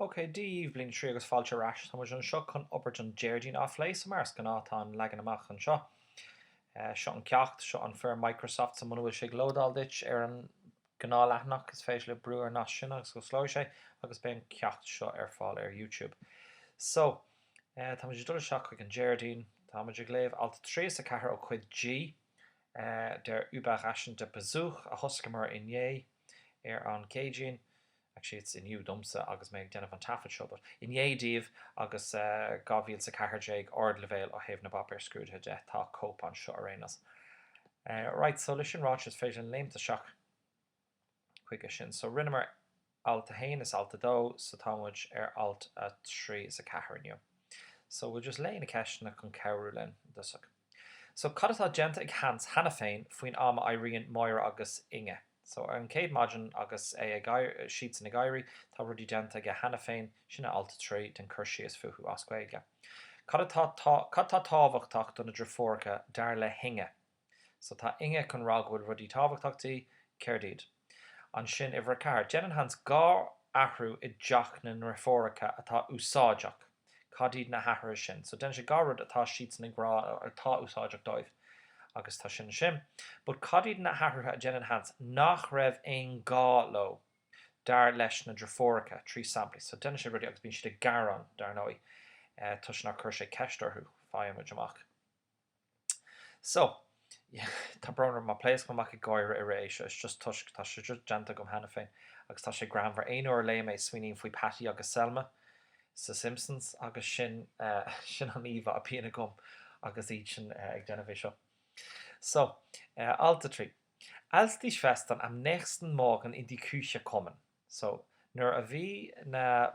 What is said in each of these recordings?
OK, Dia daoibh bliain 3 agus fáilte ar ais! Tá muid anseo chun obair an Déardaoin a phlé, so mar is gnáth tá an leagan amach anseo. Seo an ceacht, seo an Form Microsoft so muna bhfuil sé ag lódáil duit ar an gnáth leathanach is féidir libh brú ar an nasc sin agus osclóidh sé agus beidh an ceacht seo ar fáil ar Youtube. So, tá muid ag dul isteach chuig an Déardaoin, tá muid ag léamh alt 3 is 4 ó chuid G. Der überraschende Besuch a thosaíomar inné, ar an gCéadaoin, actually it's inniu domsa agus mé ag déanamh an taifead seo but inné daoibh agus 2014 ardleibhéal ó thaobh na bpáipéar scrúdaithe de, tá cóip anseo ar aon nós. Right so le sin ráite is féidir linn léimt isteach. chuige sin. So rinneamar alt a haon is alt a dó so tá muid ar alt a trí is a ceathair inniu. So we'll just léigh na ceisteanna chun cabhrú linn i dtosach. So cad atá déanta ag Hans cheana féin faoin am a éiríonn Máire agus Inge? So ar an chéad maidin agus é, siadsan ag éirí, tá rudaí déanta aige cheana féin, sin é alt a trí, déan cur síos fúthu as Gaeilge. Cad atá tábhachtach do na driofúracha dar le hInge? So tá Inge chun rá go bhfuil rudaí tábhachtach di. Céard iad? Ansin uimhir a ceathair. Déanann Hans dhá athrú i dteach na ndriofúracha atá úsáideach. Cad iad na hathruithe sin? So déanann sé dhá rud atá siadsan ag rá atá úsáideach dóibh. Agus tá sin ansin. But cad iad na hathruithe a déanann Hans nach raibh aon ghá leo dar leis na driofúracha? Trí samplaí. So déanann sé rudaí agus bíonn siad ag gearán, dar ndóigh, toisc nár chuir sé ceist orthu, faigheann muid amach. So, tá brón orm má pléascaim amach ag gáire i rith é seo, it's just toisc tá sé just déanta agam cheana féin agus tá sé greannmhar. Aon uair a léim é smaoiním faoi Patty agus Selma sa Simpsons agus sin, sin an íomhá a bhíonn agam agus iad sin ag déanamh é seo. So, alt a trí. Als die Schwestern am nächsten Morgen in die Küche kommen. So, nuair a bhí na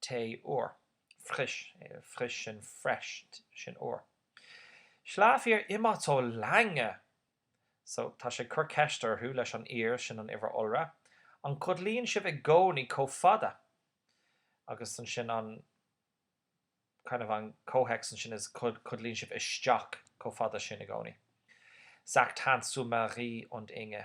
Tae úr. Frisch, frisch sin fresh, sin úr. Schlaft ihr immer so lange? So, tá sé ag cur ceist orthu leis an ihr sin an uimhir iolra, an gcodlaíonn sibh i gcónaí chomh fada? Agus ansin an, kind of an comhthéacs ansin is codlaíonn sibh isteach chomh fada sin i gcónaí. Sagt Hans zu Marie und Inge.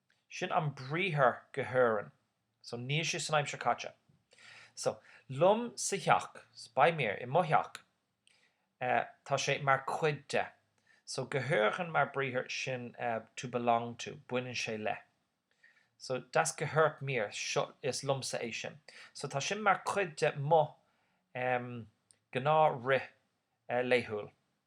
Sin an briathar gehören. So níl sé san aimsir caite. So, liom sa theach, bei mir, i mo theach, eh, tá sé mar cuid de. So gehören mar briathar sin eh, to belong to, baineann sé le. So das gehört mir, seo, is liomsa é sin. So tá sin mar cuid de mo, em, gnáth-rith eh, laethúil.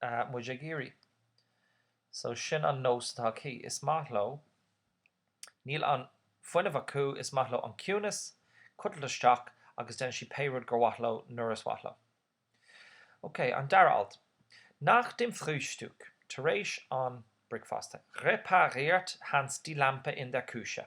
Tá muid ag iarraidh. So sin an nós atá aici. Is maith leo. Níl an fuinneamh acu, is maith leo an ciúnas, codladh isteach agus déanann siad pé rud gur mhaith leo nuair is mhaith leo. Ok, an dara alt. Nach dem Frühstück, tar éis an bricfeasta, repariert Hans die Lampe in der Küche.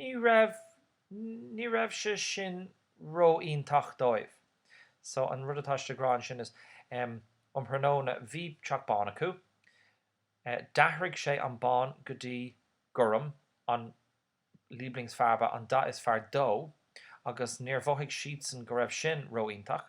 Ní raibh, ní raibh sé sin ró-iontach dóibh. So an rud atá siad ag rá ansin is em, um thráthnóna bhí teach bán acu, eh d'athraigh sé an bán go dtí gorm, an Lieblingsfarbe, an dath is fearr dó agus níor mhothaigh siadsan go raibh sin ró-iontach.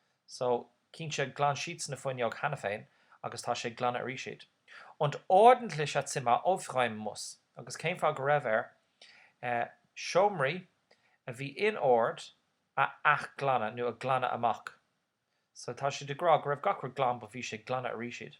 So, chinn sé glan siad na fuinneog cheana féin agus tá sé ag glanadh arís iad. Und ordentliche Zimmer aufräumen muss. Agus cén fáth go raibh air eh seomraí a bhí in ord a athghlanadh nó a ghlanadh amach? So tá siad ag rá go raibh gach rud glan but bhí sé ag glanadh arís iad.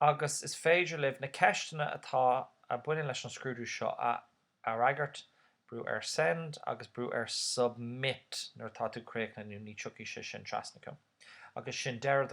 agus is féidir libh na ceisteanna atá a bhaineann leis an scrúdú seo a a fhreagairt, brú ar Send agus brú ar Submit nuair atá tú críochnaithe nó ní tiocfaidh sé sin trasna chugam agus sin deireadh